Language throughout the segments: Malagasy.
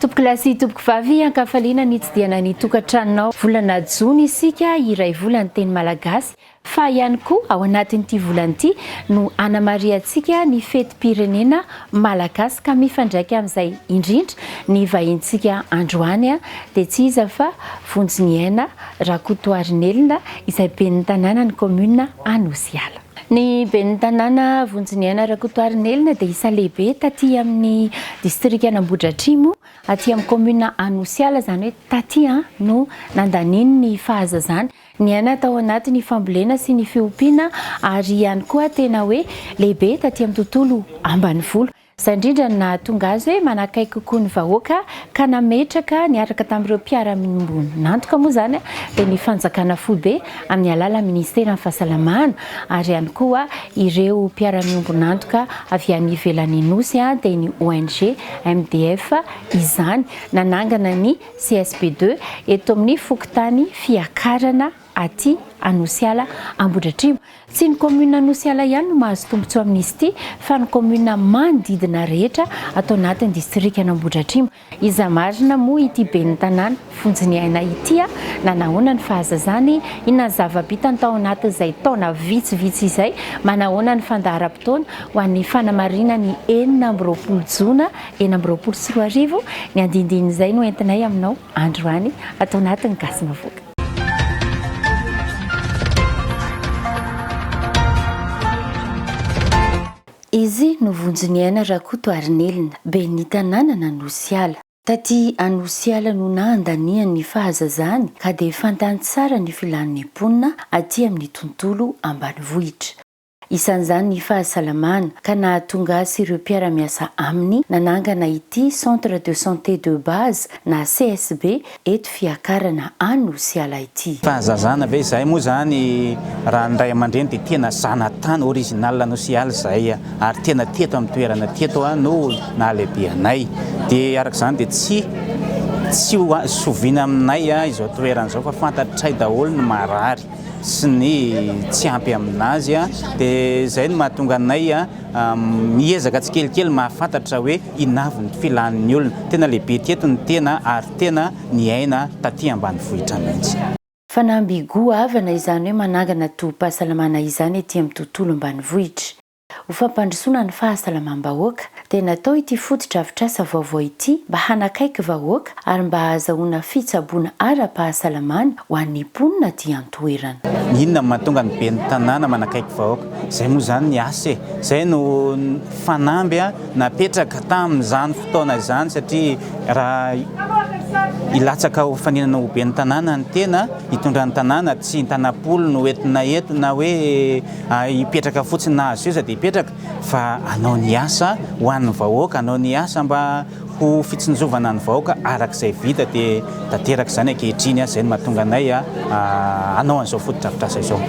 Tompokolahy sy tompokovavy, ankafaliana nitsidihana ny tokantranonao. Volana jona isika, iray vola ny teny malagasy, Fa ihany koa ao anatin'ity volana ity no hanamarihantsika ny fetim-pirenena malagasy ka mifandraika amin'izay indrindra ny vahintsika androany dia tsy iza fa Vonjiniaina Rakotoarinelina izay ben'ny tanànan'ny kaominina Anosiala. Ny ben'ny tanàna Vonjiniaina Rakotoarinelina dia isan'ny lehibe taty amin'ny distrikan'Ambohidratrimo aty amin'ny kaominina Anosiala izany hoe taty no nandaniany ny fahazazany. Niaina tao anaty ny fambolena sy ny fiompiana ary ihany koa tena hoe lehibe taty amin'ny tontolo ambanivolo. Izay indrindra no nahatonga azy hoe manakaiky kokoa ny vahoaka ka nametraka niaraka tamin'ireo mpiara-miombon'antoka moa izany dia ny fanjakana foibe amin'ny alalan'ny ministeran'ny fahasalamana ary ihany koa ireo mpiara-miombon'antoka avy any ivelan'ny Nosy dia ny ONG MDF izany nanangana ny CSB deux, eto amin'ny fokontany Fiakarana aty Anosiala Ambohidratrimo. Tsy ny kaominina Anosiala ihany no mahazo tombontsoa amin'izy ity fa ny kaominina manodidina rehetra ato anatin'ny distrikan'Ambohidratrimo. Iza marina moa ity ben'ny tanàna vonjiniaina ity a! na nahoana ny fahazazany, inona ny zava-bitany tao anatin'izay taona vitsivitsy izay, manahoana ny fandaharam-potoana ho an'ny fanamarinan'ny enina amby roapolo jona Enina amby roapolo sy roa arivo, ny andindinin'izay no entinay aminao androany ato anatin'ny Gasy Mavoaka. Izy no vonjin'i Aina Rakotoarinelina, ben'ny tanànan'Anosiala. Taty Anosiala no nahandaniany ny fahazazany ka dia fantany tsara ny filan'ny mponina aty amin'ny tontolo ambanivohitra. isan'izany ny fahasalamana, ka nahatonga azy sy ireo mpiara-miasa aminy nanangana ity Centre de Santé de Base na CSB eto Fiakarana Anosiala ity. Fahazazana ve izay moa izany raha ny ray aman-dreny dia tena zanatany original Anosiala izahay ary tena teto amin'ny toerana teto no nahalehibe anay dia araka izany dia tsy tsy ho zoviana aminay izao toerana izao fa fantatray daholo ny marary. sy ny tsy ampy aminazy dia izay no mahatonga anay miezaka tsikelikely mahafantatra hoe inavy ny filan'ny olona. Tena lehibe ety eto ny tena ary tena niaina taty ambanivohitra mihitsy. Fanamby goavana izany hoe manangana tobim-pahasalamana izany ety amin'ny tontolo ambanivohitra. Ho fampandrosoana ny fahasalamam-bahoaka dia natao ity fotodrafitrasa vaovao ity mba hanakaiky vahoaka ary mba hahazahoana fitsaboana ara-pahasalamana ho an'ny mponina aty an-toerana. Inona no mahatonga ny ben'ny tanàna manakaiky vahoaka? Izay moa izany ny asa e! Izay no fanamby napetraka tamin'izany fotoana izany satria raha hilatsaka ho fanenana ho ben'ny tanàna ny tena, hitondra ny tanàna, tsy ny tanam-polo no entina eto na hoe. Hipetraka fotsiny na azo seza dia hipetraka fa hanao ny asa ho an'ny vahoaka, hanao ny asa mba ho fitsinjovana ny vahoaka araka izay vita dia tanteraka izany ankehitriny, izay no mahatonga anay hanao an'izao fotodrafitrasa izao.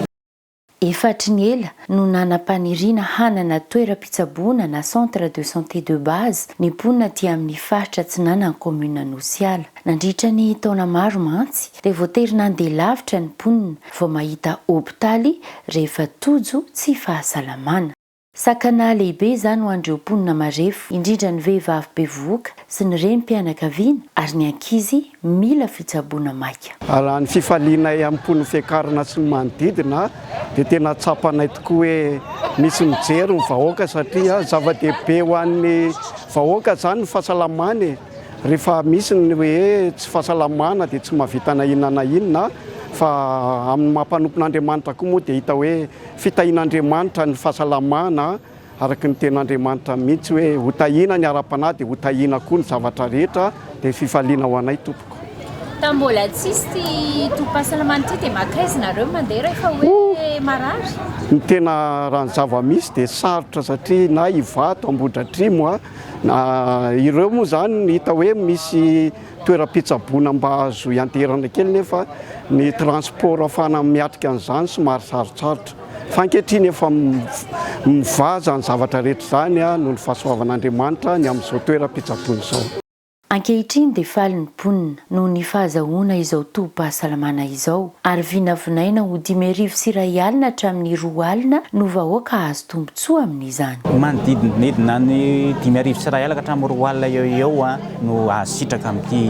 Efatry ny ela no nanam-paniriana hanana toeram-pitsaboana na centre de santé de base ny mponina aty amin'ny faritra atsinanan'ny kaominina Anosiala. Nandritra ny taona maro mantsy dia voatery nandeha lavitra ny mponina Vao mahita hopitaly rehefa tojo tsy fahasalamana. Sakana lehibe izany ho an'ireo mponina marefo, indrindra ny vehivavy bevohoka sy ny renim-pianakaviana ary ny ankizy mila fitsaboana maika. Raha ny fifalianay am-po ny Fiakarana sy ny manodidina dia tena tsapanay tokoa hoe misy mijery ny vahoaka satria zava-dehibe ho an'ny vahoaka izany ny fahasalamany e! Rehefa misy ny hoe tsy fahasalamana dia tsy mahavita na inona na inona fa amin'ny maha mpanompon'Andriamanitra koa moa dia hita hoe fitahian'Andriamanitra ny fahasalamana araka ny tenin'Andriamanitra mihitsy hoe ho tahiana ny ara-panahy dia ho tahiana koa ny zavatra rehetra dia fifaliana ho anay tompoko. Tamin'ny mbola tsisy ity tobim-pahasalamana ity dia maka aiza nareo mandeha rehefa hoe marary? Ny tena raha ny zava-misy dia sarotra satria na Ivato, Ambohidratrimo, Na ireo moa izany hita hoe misy toeram-pitsaboana mba azo ianteherana kely nefa ny transport ahafahana miatrika an'izany somary sarotsarotra. Fa ankehitriny efa mivaha izany zavatra rehetra izany noho ny fahasoavan'Andriamanitra ny amin'izao toeram-pitsaboana izao. Ankehitriny dia faly ny mponina noho ny fahazahoana izao tobim-pahasalamana izao ary vinavinaina ho dimy arivo sy iray alina hatramin'ny roa alina no vahoaka hahazo tombontsoa amin'izany. Manodidididina ny dimy arivo sy iray alina ka hatramin'ny roa alina eo ho eo no hahazo sitraka amin'ity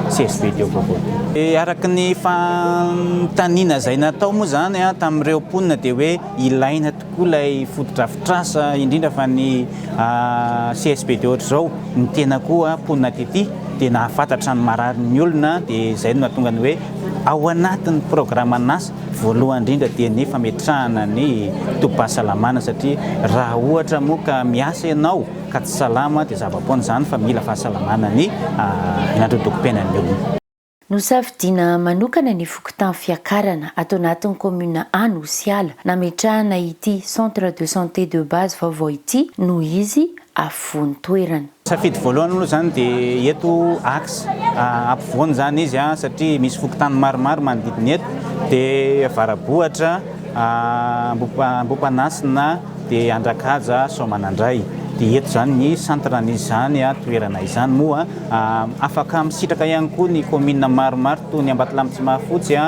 CSV ity eo vaovao ity. Araka ny fanontaniana izay natao moa izany tamin'ireo mponina dia hoe ilaina koa ilay fotodrafitrasa indrindra fa ny CSP de ohatr'izao ny tena koa mponina aty dia nahafantatra ny mararin'ny olona dia izay no nahatonga ny hoe ao anatin'ny programan'asa voalohany indrindra dia ny fametrahana ny tobim-pahasalamana satria raha ohatra moa ka miasa ianao ka tsy salama dia zava-poana izany fa mila fahasalamana ny ny androdokom-piainan'ny olona. Nosafidiana manokana ny fokontany Fiakarana, ato anatin'ny kaominina Anosiala, nametrahana ity Centre de santé de base vaovao ity noho izy afovoan'ny toerana. Safidy voalohany aloha izany dia eto axe ampovoany izany izy satria misy fokontany maromaro manodidina eto dia Avarabohatra, Ambohipanasina, dia Andrakaja Soamanandray, dia eto izany ny centre n'izany toerana izany moa afaka misitraka ihany koa ny commune maromaro toy ny Ambatolampy tsy mahafotsy,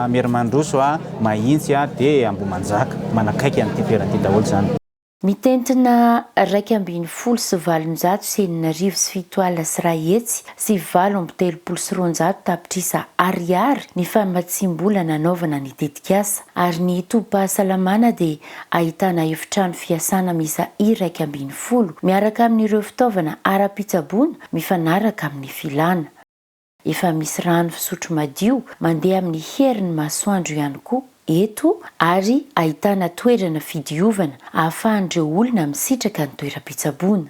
Merimandroso, Mahitsy dia Ambohimanjaka, manakaiky an'ity toerana ity daholo izany. Mitentina iraika ambin'ny folo sy valonjato sy enina arivo sy fito alina sy iray hetsy sy valo amby telopolo sy roanjato tapitrisa Ariary ny famatsiam-bola nanaovana ny tetikasa. ary ny tobim-pahasalamana dia ahitana efitrano fiasana miisa iraika ambin'ny folo miaraka amin'ireo fitaovana ara-pitsaboana mifanaraka amin'ny filàna. Efa misy rano fisotro madio mandeha amin'ny herin'ny masoandro ihany koa eto ary ahitana toerana fidiovana ahafahan'ireo olona misitraka ny toeram-pitsaboana.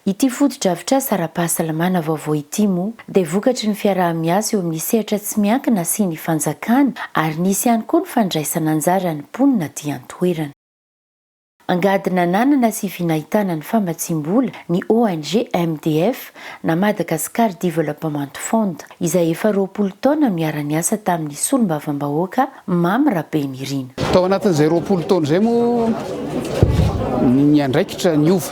Ity fotodrafitrasa ara-pahasalamana vaovao ity moa dia vokatry ny fiaraha-miasa eo amin'ny sehatra tsy miankina asian'ny fanjakana ary nisy ihany koa ny fandraisan'anjaran'ny mponina aty an-toerana. Angady nananana sy vinahitana ny famatsiam-bola ny ONG MDF na Madagascar Development Fund. izay efa roapolo taona miara-niasa tamin'ny solombavambahoaka Mamy Rabenirina. Tao anatin'izay roapolo taona izay moa niandraikitra niova.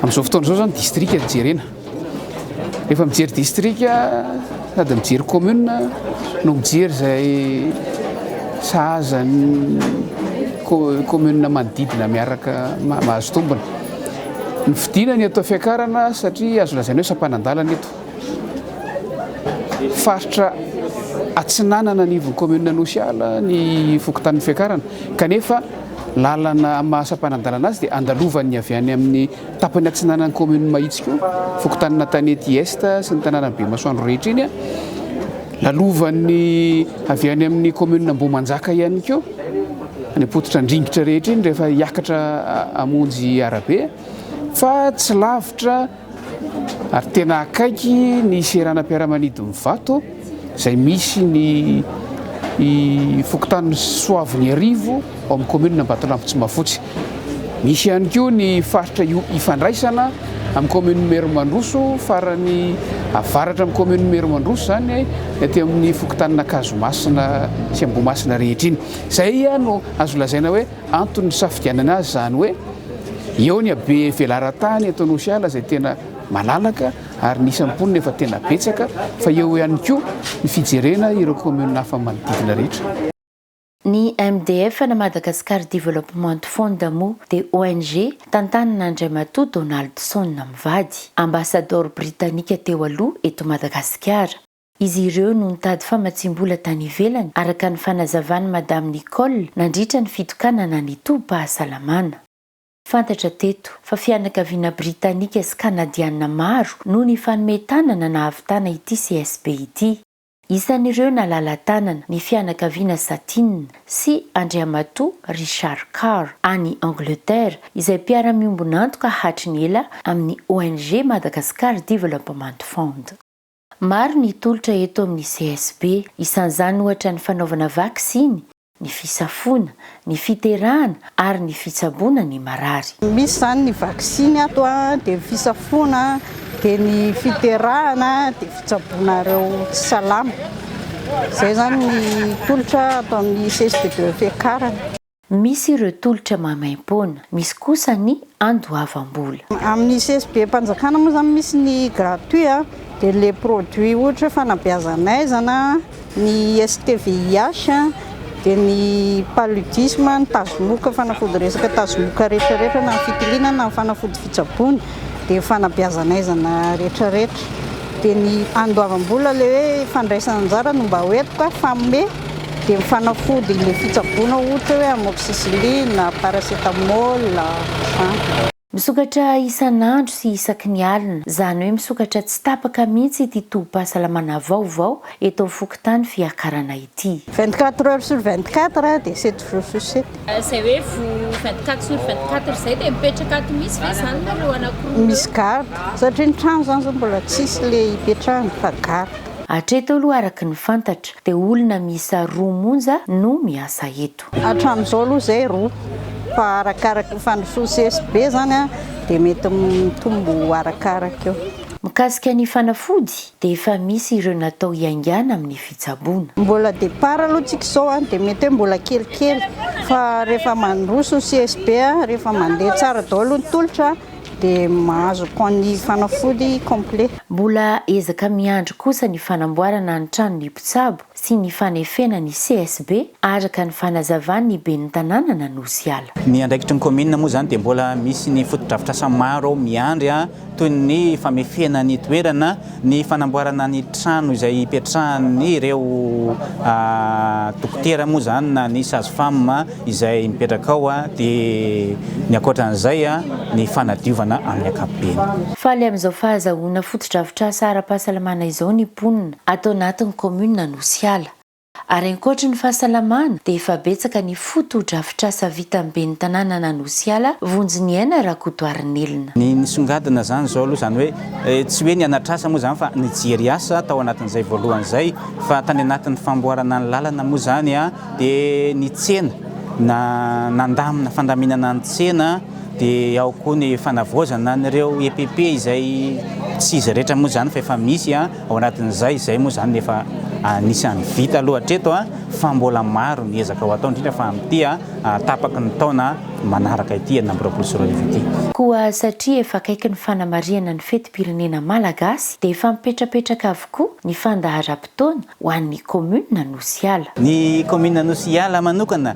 Amin'izao fotoana izao izany distrika no jerena. Rehefa mijery distrika sady mijery commune no mijery izay sahaza ny commune manodidina miaraka mahazo tombony. Ny fidinany eto Fiakarana satria azo lazaina hoe sampanan-dalana eto. Faritra atsinanana anivon'ny kaominina Anosiala ny fokontanin'ny Fiakarana, kanefa lalana amin'ny maha sampanadalana azy dia andalovan'ny avy any amin'ny tapany atsinanan'ny kaominin'i Mahitsy koa, fokontanin'Antanety Est sy ny tanànan'i Bemasoandro rehetra iny, lalovan'ny avy any amin'ny kaominina Ambohimanjaka ihany koa any am-pototra Andringitra rehetra iny rehefa hiakatra hamonjy arabe fa tsy lavitra Ary tena akaiky ny seranam-piaramanidin'i Vato izay misy ny fokontany Soaviniarivo ao amin'ny kaominina Ambatolampy Tsimafotsy. Misy ihany koa ny faritra ifandraisana amin'ny kaominina Merimandroso farany avaratra amin'ny kaominina Merimandroso izany aty amin'ny fokontanina Ankazomasina sy Ambohimasina rehetra iny. Izay no azo lazaina hoe Antony nisafidianana azy izany hoe eo ny habe velaran-tany eto Anosiala izay tena malalaka ary ny isan'ny mponina efa tena betsaka fa eo ihany koa ny fijerena ireo kaominina hafa manodidina rehetra. Ny MDF na Madagascar Development Fund moa dia ONG tantanin'Andriamatoa Donaldson mivady, ambasadaoro britanika teo aloha eto Madagasikara. Izy ireo no nitady famatsiam-bola tany ivelany, araka ny fanazavan'i Madame Nicole, nandritra ny fitokanana ny tobim-pahasalamana. Fantatra teto, fa fianakaviana britanika sy kanadiana maro no nifanome tanana nahavitana ity CSB ity. Isan'ireo nalala-tanana, ny fianakaviana Satin sy Andriamatoa Richard Carr, any Angleterre, izay mpiara-miombon'antoka hatry ny ela amin'ny ONG Madagascar Development Fund. Maro ny tolotra eto amin'ny CSB. Isan'izany ohatra ny fanaovana vaksiny, ny fisafoana, ny fiterahana ary ny fitsaboana ny marary. Misy izany ny vaksiny ato, dia ny fisafoana, dia ny fiterahana, dia fitsaboana ireo tsy salama. Izay izany ny tolotra ato amin'ny CSB de Fekarana. Misy ireo tolotra maimaim-poana, misy kosa ny andoavam-bola. Amin'ny CSB-mpanjakana moa izany misy ny gratuit a, dia ilay produit ohatra hoe fanabeazan'aizana, ny STVIH, dia ny paludisme, ny tazomoka, fanafody resaka tazomoka rehetra rehetra na ny fitiliana na ny fanafody fitsaboana. dia ny fanabeazan'aizana retraretra dia ny andoavam-bola ilay hoe fandraisana anjara no mba hoentiko a, fanome dia ny fanafody ilay fitsaboana ohatra hoe amoxicilline, paracetamol, an. Misokatra isan'andro sy isaky ny alina, izany hoe misokatra tsy tapaka mihitsy ity tobim-pahasalamana vaovao Eto fokontany fiakarana ity. Vingt quatre heures sur vingt quatre dia sept jours sur sept. Izay hoe vingt quatre sur vingt quatre izay dia mipetraka ato misy ve izany nareo anankiroa eo? Misy garde satria ny trano izany izao mbola tsisy le hipetrahana fa garde. Hatreto aloha araka ny fantatra dia olona miisa roa monja no miasa eto. Hatramin'izao aloha izay roa fa arakaraka ny fandrosoan'ny CSB izany dia mety mitombo arakaraka eo. Mikasika ny fanafody, Dia efa misy ireo natao hiaingàna amin'ny fitsaboana. Mbola départ aloha tsika izao a, dia mety hoe mbola kelikely fa rehefa mandroso ny CSB, rehefa mandeha tsara daholo ny tolotra dia mahazo camp ny fanafody complet. Mbola ezaka miandry kosa ny fanamboarana ny tranon'ny mpitsabo sy ny fanefena ny CSB, araka ny fanazavan'ny ben'ny tanànan'Anosiala. Ny andraikitry ny kaominina moa izany dia mbola misy ny fotodrafitrasa maro miandry, toy ny famefena ny toerana, ny fanamboarana ny trano izay hipetrahan'ireo dokotera moa izany na ny sage-femme izay mipetraka ao, dia ny ankoatra an'izay ny fanadiovana amin'ny ankapobeny. Faly amin'izao fahazahoana fotodrafitrasa ara-pahasalamana izao ny mponina. ato anatin'ny kaominina Anosiala, ary ankoatry ny fahasalamana dia efa betsaka ny fotodrafitrasa vitan'ny ben'ny tanànan'Anosiala, Vonjiniaina Rakotoarinelina. Ny nisongadina izany izao aloha izany hoe, tsy hoe ny hanatrasa moa izany fa nijery asa tao anatin'izay voalohany izay, fa tany anatin'ny famboarana ny lalana moa izany dia ny tsena na nandamina fandaminana ny tsena, dia ao koa ny fanavaozana an'ireo EPP izay tsy izy rehetra moa izany fa efa misy. Ao anatin'izay, izay moa izany no efa anisan'ny vita aloha hatreto fa mbola maro ny ezaka ho atao, indrindra fa amin'ity tapaky ny taona manaraka ity, enina amby roapolo sy roa arivo ity. Koa satria efa akaiky ny fanamarihana ny fetim-pirenena malagasy dia efa mipetrapetraka avokoa ny fandaharam-potoana ho an'ny kaominina Anosiala. Ny kaominina Anosiala manokana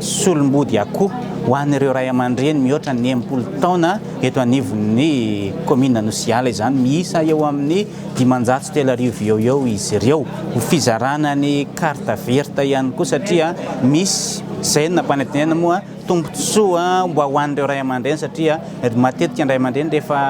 Solombody akoho ho an'ireo ray aman-dreny mihoatra ny enimpolo taona eto anivon'ny kaominina Anosiala izany. Miisa eo amin'ny dimanjato sy telo arivo eo eo izy ireo. Ho fizarana ny carte verte ihany koa satria misy izay no nampanantenaina moa tombontsoa mba ho an'ireo ray aman-dreny satria matetika ny ray aman-dreny rehefa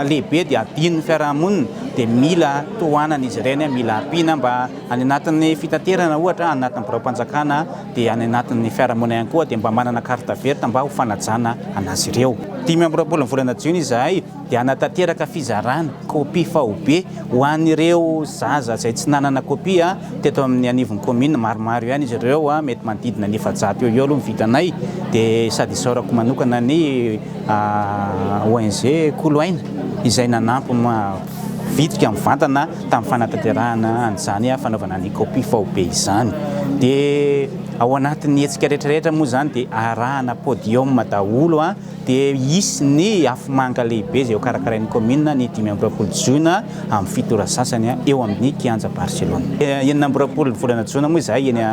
lehibe dia adinon'ny fiarahamonina dia mila tohanana izy ireny, mila ampiana mba. Any anatin'ny fitaterana ohatra, any anatin'ny biraom-panjakana dia any anatin'ny fiarahamonina ihany koa dia mba manana carte verte mba ho fanajana an'azy ireo. Dimy amby roapolo ny volana jiona izahay dia hanatanteraka fizarana kopia faobe ho an'ireo zaza izay tsy nanana kopia teto amin'ny anivon'ny kaominina, maromaro ihany izy ireo, mety manodidina ny efajato eo ho eo aloha ny vitanay dia sady isaorako manokana ny ONG Koloaina izay nanampy. vitrika mivantana tamin'ny fanatanterahana an'izany fanaovana ny kopia faobe izany. Dia ao anatin'ny hetsika rehetrarehetra moa izany dia arahana podium daholo, dia hisy ny afomanga lehibe izay hokarakarain'ny kaominina ny dimy amby roapolo jona amin'ny fito ora sasany eo amin'ny kianja Barcelona. Enina amby roapolo ny volana jona moa izahay eny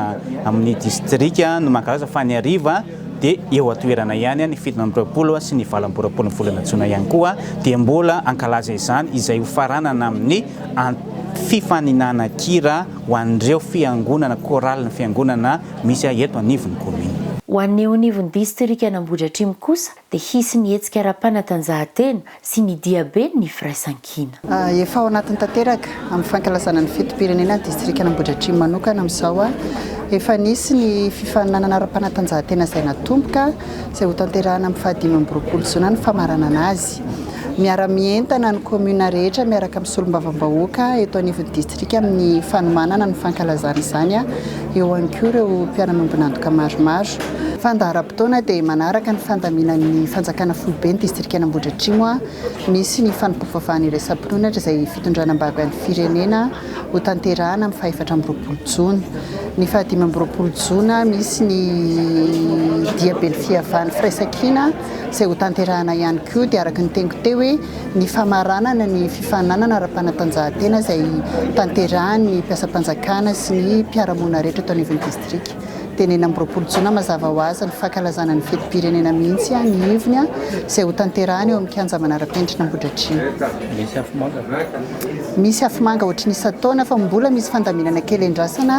amin'ny distrika no mankalaza fa ny hariva. dia eo an-toerana ihany ny fito amby roapolo sy ny valo amby roapolon'ny volana jona ihany koa dia mbola hankalaza izany izay ho faranana amin'ny fifaninanan-kira ho an'ireo fiangonana, chorale, ny fiangonana misy eto anivon'ny commune. Ho an'ny eo anivon'ny distrikan'Ambohidratrimo kosa dia hisy ny hetsika ara-panatanjahantena sy ny diabe ny firaisankina. Efa ao anatiny tanteraka amin'ny fankalazana ny fetim-pirenena ny distrikan'Ambohidratrimo manokana amin'izao. Efa nisy ny fifaninanana ara-panatanjahantena izay natomboka, izay hotanterahina amin'ny fahadimy amby roapolo jona ny famaranana azy. Miara-mientana ny kaominina rehetra miaraka amin'ny solombavambahoaka eto anivon'ny distrika amin'ny fanomanana ny fankalazana izany, eo ihany koa ireo mpiara-miombon'antoka maromaro. Fandaharam-potoana dia manaraka ny fandaminan'ny fanjakana foibe ny distrikan'Ambohidratrimo. Misy ny fanompoam-pivavahana iraisam-pinoana izay fitondrana am-bavy an'ny firenena ho tanterahana amin'ny fahefatra amby roapolo jona. Ny fahadimy amby roapolo jona misy ny diaben'ny fiavahan'ny firaisankina. izay hotanterahana ihany koa dia araka ny teniko teo hoe ny famaranana ny fifaninanana ara-panatanjahantena izay tanterahan'ny mpiasam-panjakana sy ny mpiara-monina rehetra eto anivon'ny distrika. Dia ny enina amby roapolo jona mazava ho azy ny fankalazana ny fetim-pirenena mihitsy ny ivony izay hotanterahana eo amin'ny kianja manara-penitra Ambohidratrimo. Misy afomanga ve? Misy afomanga ohatry ny isan-taona fa mbola misy fandaminana kely endrasana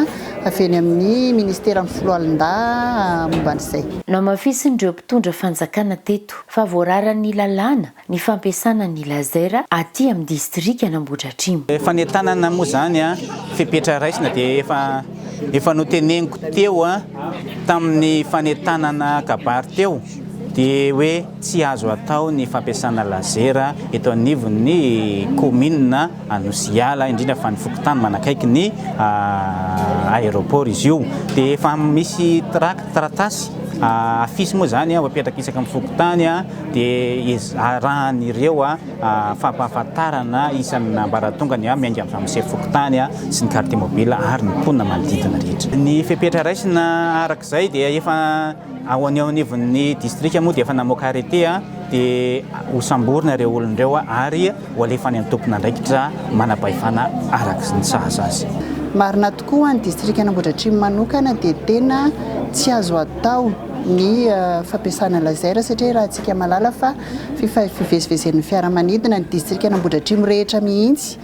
avy eny amin'ny ministeran'ny foloalindahy momba an'izay. Namafisin'ireo Mpitondra fanjakana teto fa voararan'ny lalàna ny fampiasana ny laser aty amin'ny distrikan'Ambohidratrimo. Fanentanana moa izany fepetra raisina dia efa efa noteneniko teo tamin'ny fanentanana kabary teo dia hoe tsy azo atao ny fampiasana laser eto anivon'ny kaominina Anosy Iala, indrindra fa ny fokontany manakaiky ny aéroport izy io. Dia efa misy tract, taratasy, affiche moa izany ho apetraka isaka ny fokontany dia arahan'ireo fampahafantarana isan'ny ambaratonga ny miainga amin'ny ramose fokontany sy ny carte mobile ary ny mponina manodidina rehetra. Ny fepetra raisina araka izay dia efa ao an'ny eo anivon'ny distrika moa dia efa namoaka arrêté dia hosamborina ireo olona ireo ary Ho alefa any amin'ny tompon'andraikitra manam-pahefana araka ny sahaza azy. Marina tokoa ho an'ny distrikan'Ambohidratrimo manokana dia tena tsy azo atao ny fampiasana laser satria rahantsika mahalala fa fivezivezen'ny fiaramanidina ny distrikan'Ambohidratrimo rehetra mihitsy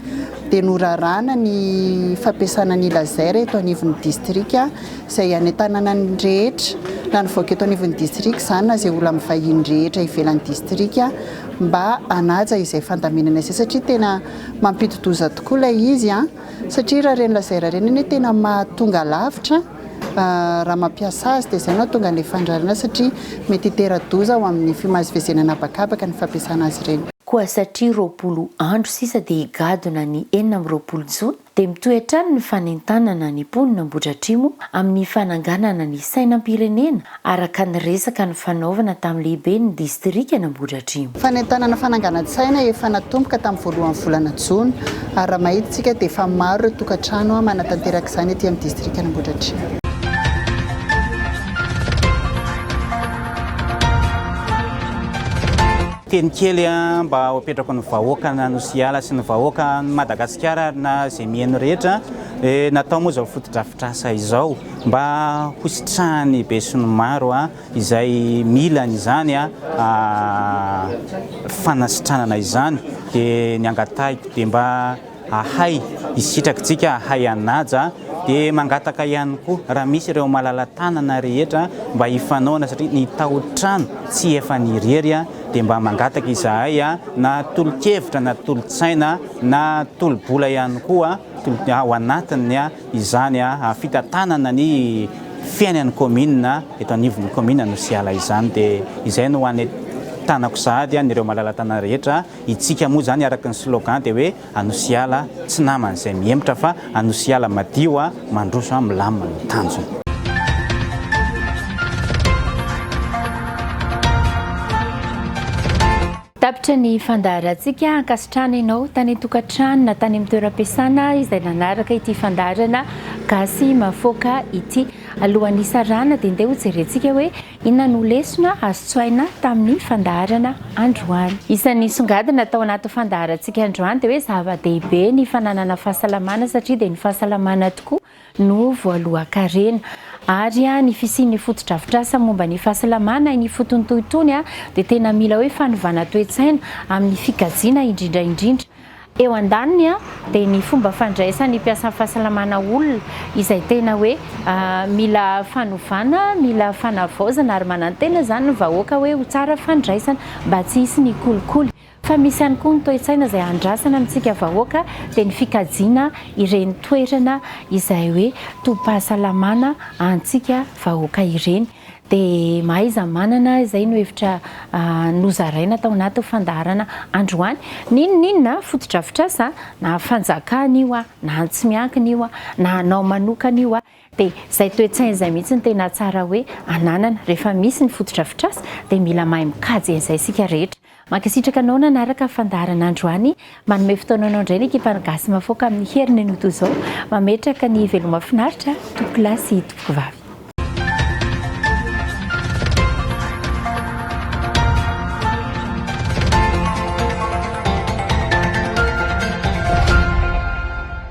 dia norarana ny fampiasana ny laser eto anivon'ny distrika izay any an-tananan'ny rehetra na nivoaka eto anivon'ny distrika izany na izay olona mivahiny rehetra ivelan'ny distrika mba hanaja izay fandaminana izay satria tena mampidi-doza tokoa ilay izy an! satria raha ireny lazaira ireny anie tena mahatonga lavitra raha mampiasa azy dia izay no hahatonga an'ilay fandrarana satria mety hitera-doza ho amin'ny fimazivezena an'habakabaka ny fampiasana azy ireny. Koa satria roapolo andro sisa dia higadona ny enina amby roapolo jona, dia mitohy hatrany ny fanentanana ny mponin' Ambohidratrimo amin'ny fananganana ny sainam-pirenena araka ny resaka nifanaovana tamin'ny lehiben'ny distrikan' Ambohidratrimo. Fanentanana fananganan-tsaina efa natomboka tamin'ny voalohan'ny volana jona ary raha mahita isika dia efa maro ireo tokantrano manatanteraka izany ety amin'ny distrikan' Ambohidratrimo. Teny kely mba ho apetrako ny vahoaka na nosy hiala sy ny vahoaka ny Madagasikara ary na izay miheno rehetra dia natao moa izao fotodrafitrasa izao mba ho sitrahan'ny be sy ny maro izay mila an'izany fanasitranana izany dia ny angatahiko dia mba Ahay hisitraka tsika ahay hanaja dia mangataka ihany koa raha misy ireo malalatanana rehetra mba hifanaona satria ny taotrano tsy efa ny irery dia mba mangataka izahay na tolokevitra na tolotsaina na tolobola ihany koa ao anatin'ny izany fitantanana ny fiainan'ny commune eto anivon'ny commune Anosiala izany dia izay no hanentanako sahady an'ireo malalatanana rehetra Itsika moa zany araka ny slogan dia hoe Anosiala tsy namana izay mihemotra fa Anosiala madio a, mandroso a, milamina no tanjona. Tapitra ny fandaharantsika, ankasitrahana ianao tany an-tokantrano na tany amin'ny toeram-piasana izay nanaraka ity fandaharana Gasy Mahafaoka ity. Alohan'ny hisarahana dia ndeha hojerentsika hoe Inona no lesona azo tsoahina tamin'ny fandaharana androany? Isan'ny nisongadina tao anatin'ny fandaharantsika androany dia hoe zava-dehibe ny fananana fahasalamana satria dia ny fahasalamana tokoa no voalohan-karena. Ary ny fisian'ny fotodrafitrasa momba ny fahasalamana eny ifotony toy itony dia tena mila hoe fanovana toe-tsaina amin'ny fikajiana indrindra indrindra Eo andaniny dia ny fomba fandraisan'ny mpiasan'ny fahasalamana olona izay tena hoe mila fanovana, mila fanavaozana ary manantena izany ny vahoaka hoe ho tsara fandraisana mba tsy hisy ny kolikoly. Fa misy ihany koa ny toe-tsaina izay andrasana amintsika vahoaka dia ny fikajiana ireny toerana izay hoe tobim-pahasalamana antsika vahoaka ireny. Dia mahaiza manana izay no hevitra nozaraina tao anatin'ny fandaharana androany. N'inon'inona, fotodrafitrasa, na fanjakana io na antsy miankina io na anao manokana io, dia izay toe-tsaina izay mihitsy no tena tsara hoe ananana. Rehefa misy ny fotodrafitrasa dia mila mahay mikajy an'izay isika rehetra. Mankasitraka anao nanaraka fandaharana androany. Manome fotoananao indray ny ekipan'ny Gasy Mahafaoka amin'ny heriny no toy izao. Mametraka ny veloma finaritra tompoko lahy sy tompoko vavy.